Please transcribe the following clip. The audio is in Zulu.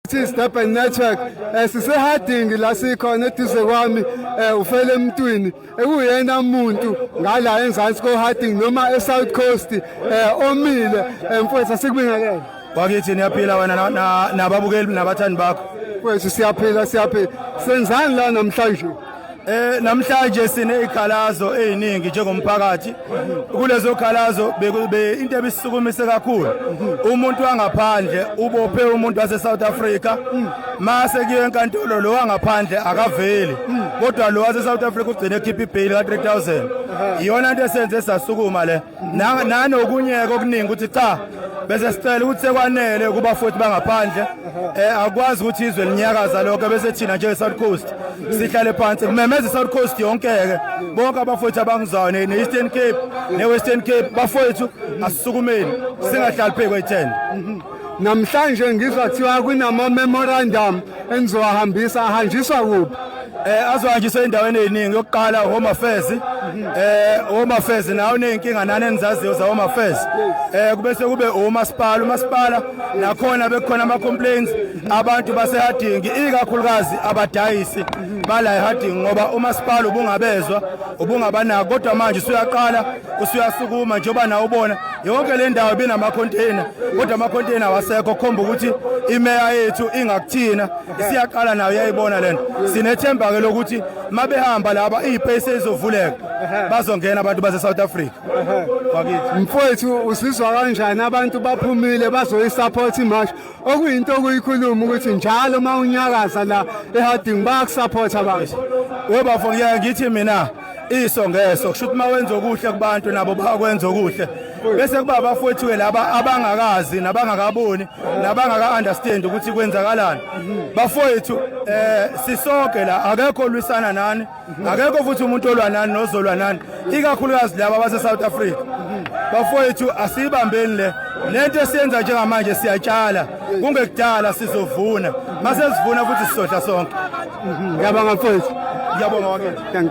This Durban Network eh, sisehadingi la sikhona eduze kwami eh, ufele emntwini ekuyena muntu ngala enzansi kohadingi noma eSouth Coast eh, omile mfowethu asikubingelele wakithi niyaphila wena nababukeli nabathandi bakho mfowethu siyaphila siyaphila senzani la namhlanje Eh namhlanje sine ikhalazo eziningi njengomphakathi kulezo khalazo be into ebisukumise kakhulu umuntu wangaphandle ubophe umuntu wase South Africa mase kuye enkantolo lo wangaphandle akaveli kodwa lo wase South Africa ugcine ekhipha ibail ka 3000 iyona into esenze sasukuma le nanokunyeka okuningi ukuthi cha bese sicela ukuthi sekwanele kuba futhi bangaphandle eh akwazi ukuthi izwe linyakaza lokho bese thina nje South Coast sihlale phansi kumemeza South Coast yonke ke bonke abafowethu abangizayo ne Eastern Cape ne Western Cape bafowethu asisukumeni singahlali phezu kwe 10 namhlanje ngizwa kuthiwa kunama memorandum enizowahambisa ahanjiswa kuphi eh azohanjiswa endaweni eziningi yokuqala home affairs eh home affairs nawo nezinkinga nani enizaziyo za home affairs eh kube sekube umasipala umasipala nakhona bekukhona ama complaints abantu basehadingi ikakhulukazi abadayisi bala ehadingi ngoba umasipala ubungabezwa ubungabanako kodwa manje usuyaqala usuyasukuma njengoba nawe ubona yonke le ndawo ibinamacontainer kodwa amacontainer awasekho khomba ukuthi imeya yethu ingakuthina isiyaqala nayo yayibona le nto sinethemba-ke lokuthi uma behamba laba iy'pesi ezovuleka bazongena abantu base-south africa mfowethu usizwa kanjani abantu baphumile bazoyisapotha imashi okuyinto okuyikhuluma ukuthi njalo uma unyakaza la eharding bayakusaphotha abantu webafo ngiyeke ngithi mina iso ngeso kusho ukuthi uma wenza okuhle kubantu nabo bakwenza okuhle bese kuba abafowethu-ke laba abangakazi nabangakaboni nabangaka-understand ukuthi kwenzakalani bafowethu um sisoke la akekho olwisana nani akekho futhi umuntu olwa nani nozolwa nani ikakhulukazi laba base-south africa bafowethu asiyibambeni le lento esiyenza njengamanje siyatshala kungekudala sizovuna masesivuna futhi sizodla sonke ngiyabonga mfowethu ngiyabonga wakethu